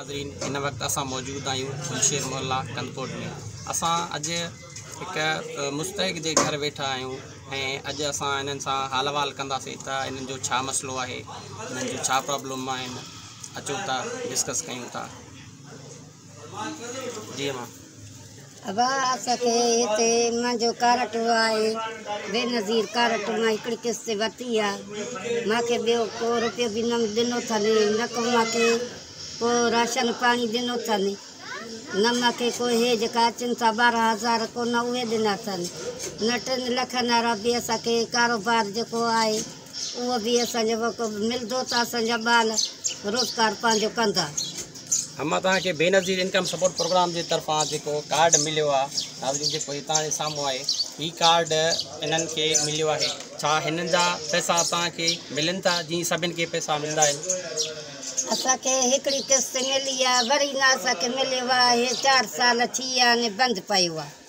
ناظرين هن وقت اسان موجود آهيون پلشير محلا ڪنڌڪوٽ ۾ اسان اڄ هڪ مستحق جي گهر ويٺا آهيون ۽ اڄ اسان هنن سان حال احوال ڪنداسين ته هنن جو ڇا مسئلو آهي هنن جون ڇا پرابلم آهن اچو ته ڊسڪس ڪيون ٿا ابا اسان کي هتي منهنجو ڪارٽ آهي بينظير ڪارٽ مان هڪڙي قسط ورتي آ مان کي ٻيو ڪو روپيو به نه ڏنو اٿن نه ڪو مان کي ڪو راشن پاڻي ڏنو اٿن نه مان کي ڪو هي جيڪا اچن ٿا ٻارهن هزار ڪو نه اهي ڏنا اٿن نه ٽن لکن وارا به اسان کي ڪاروبار جيڪو آهي اهو به اسان جو موقعو ملندو ته اسان جا ٻال روزگار پنهنجو ڪندا. اما توهان کي Benazir income support programme جي طرفان جيڪو ڪارڊ مليو آ ناظرين جيڪو هي توهان جي سامهون آهي هي ڪارڊ انهن کي مليو آهي ڇا هنن جا پئسا توهان کي ملن ٿا جيئن سڀن کي پئسا ملندا آهن اسان کي هڪڙي قسط ملي آ وري نه اسان کي مليو آهي چار سال ٿي ويا آهن بند پيو آهي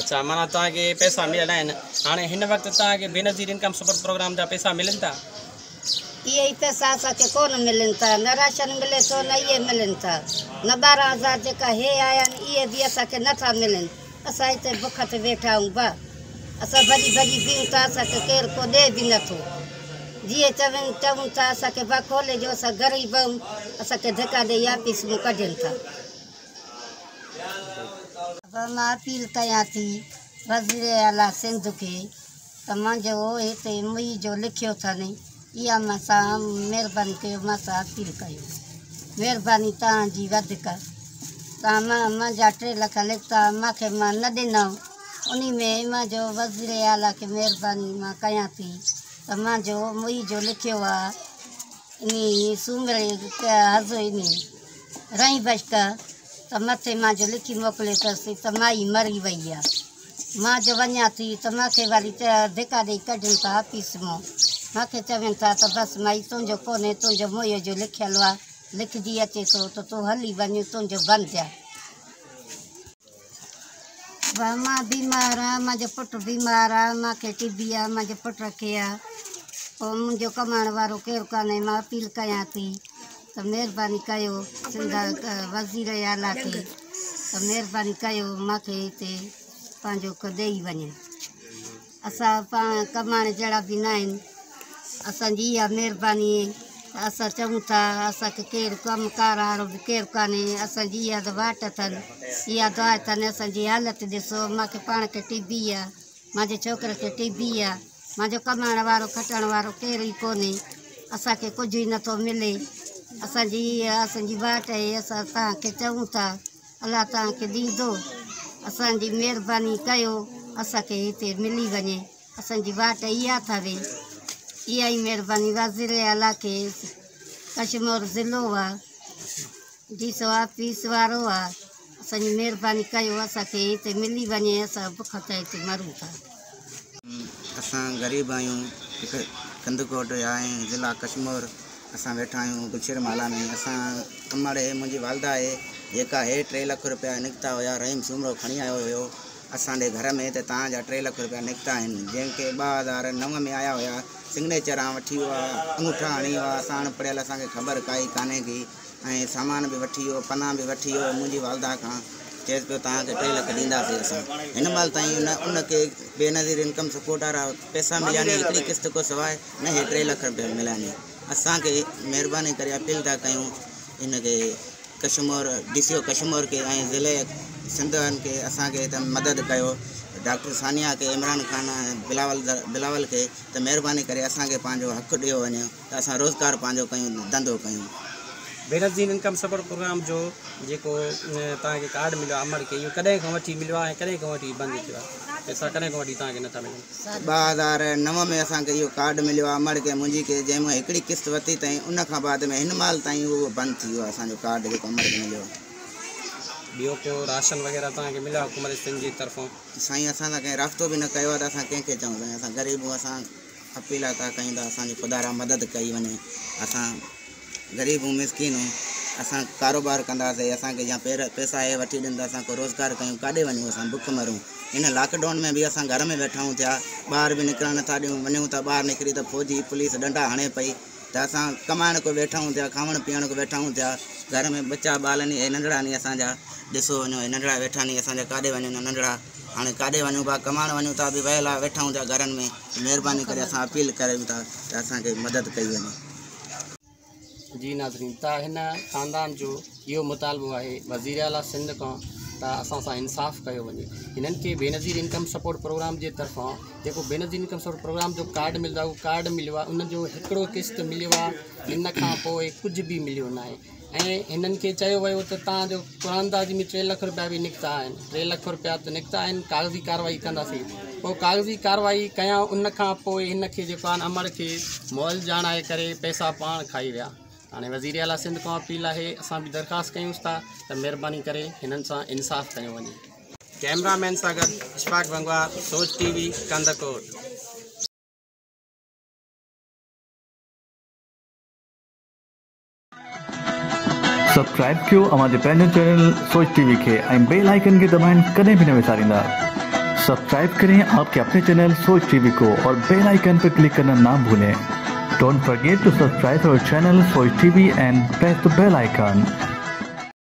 اڇا معنيٰ توهان کي پئسا مليل آهن. هاڻي هن وقت توهان کي بينظير انڪم سپورٽ پروگرام جا پئسا ملن ٿا؟ اهي ئي پئسا اسان کي ڪونه ملن ٿا. نه راشن ملي ٿو نه اهي ملن ٿا. نه ٻارهن هزار جيڪا هي آيا آهن اهي به اسان کي نه ٿا ملن. اسان هتي بک تي ويٺا آهيون با. اسان ڀڄي ڀڄي بيهون ٿا اسان کي ڪير ڪو ڏي به نه ٿو. جيئن چون چئون ٿا اسان کي با کولي ڏيو اسان غريب آهيون. اسان کي ڌڪا ڏيئي آفيس مون ڪڍين ٿا. پر مان اپيل ڪيان ٿي وزير اعليٰ سنڌ کي ته مان جو هتي مئي جو لکيو اٿن اها مان سان مهرباني ڪيو مان سان اپيل ڪيو مهرباني توهان جي وڌيڪ توهان مان مان جا ٽي لک لکتا مان کي مان نه ڏنو انهي ۾ مان جو وزير اعليٰ کي مهرباني مان ڪيان ٿي ته مان جو مئي جو لکيو آ انهي سومري حض انهي رئين بشڪ ته مٿي مان جو لکي موڪلي ٿس ته مائي مري وئي آ مان جو وڃان ٿي ته مان کي وري ڌڪا ڏئي ڪڍن ٿا آفيس مون مان کي چون ٿا ته بس مائي تنهنجو ڪونهي تنهنجو موئي جو لکيل آ لکجي اچي ٿو ته تون هلي وڃ تنهنجو بند آ. ڀاء مان بيمار آهيان منهنجو پٽ بيمار آهي مان کي ٽي بي آهي منهنجي پٽ کي آهي پوء منهنجو ڪمائڻ وارو ڪير ڪانهي مان اپيل ڪيان ٿي ته مهرباني ڪيو سنڌ وزير اعليٰ کي ته مهرباني ڪيو مان کي هتي پنهنجو ڏيئي وڃي اسان پاڻ ڪماڻي جهڙا به ناهن اسان جي اها مهرباني ته اسان چئون ٿا اسان کي ڪير ڪم ڪار وارو به ڪير ڪانهي اسان جي اها ته واٽ اٿن اها دعا اٿن اسان جي حالت ڏسو مان کي پاڻ کي ٽي بي آ مانجي ڇوڪري کي ٽي بي آ مانجو ڪمائڻ وارو کٽڻ وارو ڪير ئي ڪونهي اسان کي ڪجهه ئي نٿو ملي اسان جي اها اسان جي واٽ آهي اسان تهان کي چئون ٿا الله توهان کي ڏيندو اسان جي مهرباني ڪيو اسان کي هتي ملي وڃي اسان جي واٽ اهي اٿا وي اها ئي مهرباني وزير اعليٰ کي ڪشمور ضلعو آهي ڊي سو آفيس وارو آهي اسان جي مهرباني ڪيو اسان کي هتي ملي وڃي اسان بک تي هتي مرون ٿا اسان غريب آهيون هڪ ڪنڌڪوٽ جا ۽ ضلع ڪشمور اسان ويٺا آهيون گلشير محلا ۾ اسان امڙ هي منهنجي والده آهي جيڪا هي ٽي لک روپيا نڪتا هيا رحيم سومرو کڻي آيو هيو اسان ڏي گهر ۾ ته تان جا ٽي لک روپيا نڪتا آهن جنهن کي ٻه هزار نو ۾ آيا هيا سگنيچر آن وٺي ويو آهي انگوٺا هڻي ويو آهي اسان اڻ پڙهيل اسان کي خبر ڪائي ڪانهي ڪي ۽ سامان به وٺي ويو، پناهه به وٺي ويو ۽ منهنجي والده کان چيس پيو توهان کي ٽي لک ڏينداسين اسان. هن مهل تائين نه ان کي بينظير انڪم سپورٽ وارا پئسا مليا آهن هڪڙي قسط کان سواء نه هي ٽي لک رپيا مليا آهن. اسان کي مهرباني ڪري اپيل ٿا ڪيون ان کي Kashmore D C O Kashmore کي ۽ ضلعي سنڌ وارن کي اسان کي ته مدد ڪيو ڊاڪٽر ثانيه کي عمران خان ۽ بلاول بلاول کي ته مهرباني ڪري اسان کي پنهنجو حق ڏيو وڃي. ته اسان روزگار پنهنجو ڪيون ڌنڌو ڪيون. بينظير انڪم سپورٽ پروگرام جو جيڪو توهان کي ڪارڊ مليو آهي امڙ کي اهو ڪڏهن کان وٺي مليو آهي ۽ ڪڏهن کان وٺي بند ٿيو آهي پئسا ڪڏهن کان وٺي توهان کي نٿا ملن. ٻه هزار نو ۾ اسان کي اهو ڪارڊ مليو آهي امڙ کي منهنجي کي جنهن مان هڪڙي قسط ورتي تائين ان کان بعد ۾ هن مهل تائين اهو بند ٿي ويو آهي اسان جو ڪارڊ جيڪو امڙ کي مليو آهي. ٻيو ڪو راشن وغيره توهان کي مليو آهي حڪومت سنڌ جي طرفان. سائين اسان سان ڪنهن رابطو به نه ڪيو آهي ته اسان ڪنهن کي چئون سائين اسان غريب اسان. اپيل ٿا ڪيون ته اسان جي خدارا مدد ڪئي وڃي اسان غريب ھون مسڪين ھون اسان ڪاروبار ڪنداسي اسان کي يا پير پيسا ھي وٺي ڏين ته اسان ڪو روزگار ڪيون ڪاڏي وڃون اسان بک مرون ان لاڪ ڊائون ۾ به اسان گھر ۾ ويٺا ھون ٿيا ٻاھر به نڪرڻ نٿا ڏيون وڃون ٿا ٻاھر نڪري ته فوجي پوليس ڏنڊا ھڻي پئي ته اسان ڪمائڻ ڪو ويٺا ھون ٿيا کاوڻ پيئڻ ڪو ويٺا ھون ٿيا گھر ۾ ٻچا ٻال ني ھي ننڍڙا ني اسان جا ڏسو وڃو ھي ننڍڙا ويٺا ني اسان جا ڪاڏي وڃن ننڍڙا هاڻي ڪاڏي وڃون ڀا ڪمائڻ وڃون ٿا به ويل آ ويٺا هوندا گهرن ۾ ته مهرباني ڪري اسان اپيل ڪريون ٿا ته اسان کي مدد ڪئي وڃي. جي ناظرين ته هن خاندان جو اهو مطالبو آهي وزير اعليٰ سنڌ کان ته اسان سان انصاف ڪيو وڃي هنن کي بينظير انڪم سپورٽ پروگرام جي طرفان جيڪو بينظير انڪم سپورٽ پروگرام جو ڪارڊ ملندو آهي اهو ڪارڊ مليو آهي ان جو هڪڙو قسط مليو آهي ان کان پوء ڪجهه به مليو ناهي ۽ هنن کي چيو ويو ته توهان جو قرانداد ۾ ٽي لک رپيا به نڪتا آهن، ٽي لک رپيا ته نڪتا آهن، ڪاغذي ڪارروائي ڪنداسين. پوء ڪاغذي ڪارروائي ڪيائون، ان کان پوء هن کي جيڪو آهن امڙ کي مئل ڄاڻائي ڪري پئسا پاڻ کائي ويا. هاڻي وزير اعليٰ سنڌ کان اپيل آهي، اسان به درخواست ڪيونس ٿا ته مهرباني ڪري هنن سان انصاف ڪيو وڃي. ڪئميرا مين سان گڏ Ashfaq Bhangwar, Soch T V, Kandhkot. Subscribe ڪيو اوهان جي پنهنجي چينل سوچ ٽي وي کي ۽ بيل آئيڪن کي دٻائڻ ڪڏهن به نه وساريندا سبسڪرائب ڪرين آپ ڪي اپني چينل سوچ ٽي وي ڪو اور بيل آئيڪن پي ڪلڪ ڪرنا نا ڀولين ڊونٽ فرگيٽ ٽو سبسڪرائب اور channel Soch T V and press the bell icon.